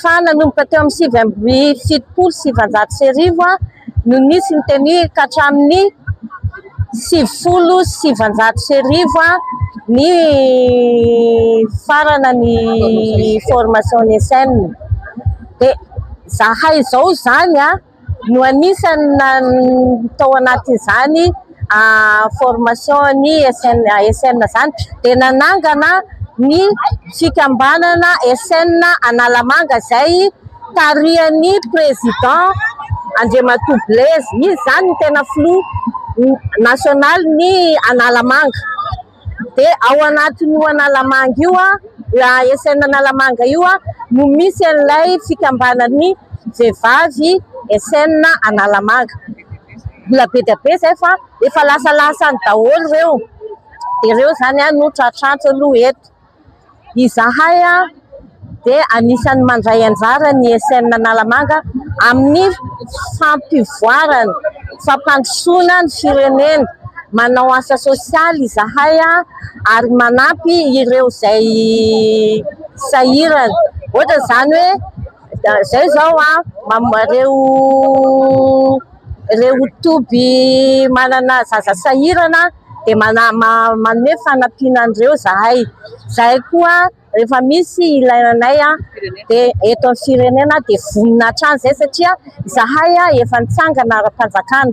fa nanomboka teo amin'ny sivy amby fitopolo sy sivinjato sy arivo no nisy ny teny ka hatramin'ny sivifolo sy sivinjato sy arivo ny farana ny formation ny SN dia zahay izao izany an! no anisany nanana tao anatin'izany formation ny SN ASN izany dia nanangana ny fikambanana SN Analamanga izay tarihan'ny président Andriamatoa Blaise, izy izany no tena filoha nationaly ny Analamanga. dia ao anatin'io Analamanga io, ASN Analamanga io no misy an'ilay fikambanan'ny vehivavy ASN Analamanga, mbola be dia be izay fa efa lasalasany daholo ireo, dia ireo izany no tratrantsy aloha eto. Izahay dia anisan'ny mandray anjara ny ESN Analamanga amin'ny fampivoarana, fampandrosoana ny firenena. Manao asa sosialy izahay ary manampy ireo izay sahirana, ohatra izany hoe. Izay izao ireo ireo toby manana zaza sahirana dia manome fanampiana an'ireo izahay. Izahay koa rehefa misy ilaina anay dia eto amin'ny firenena dia vonona hatrany izay satria izahay efa nitsangana ara-panjakana.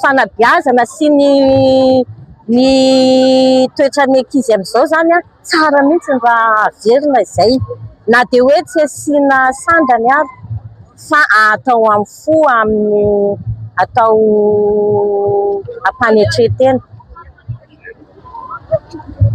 fanabeazana sy ny ny toetran'ny ankizy amin'izao izany an, tsara mihitsy ny raha averina izay na dia hoe tsy asiana sandany ary fa atao amin'ny fo amin'ny atao ampanetren-tena.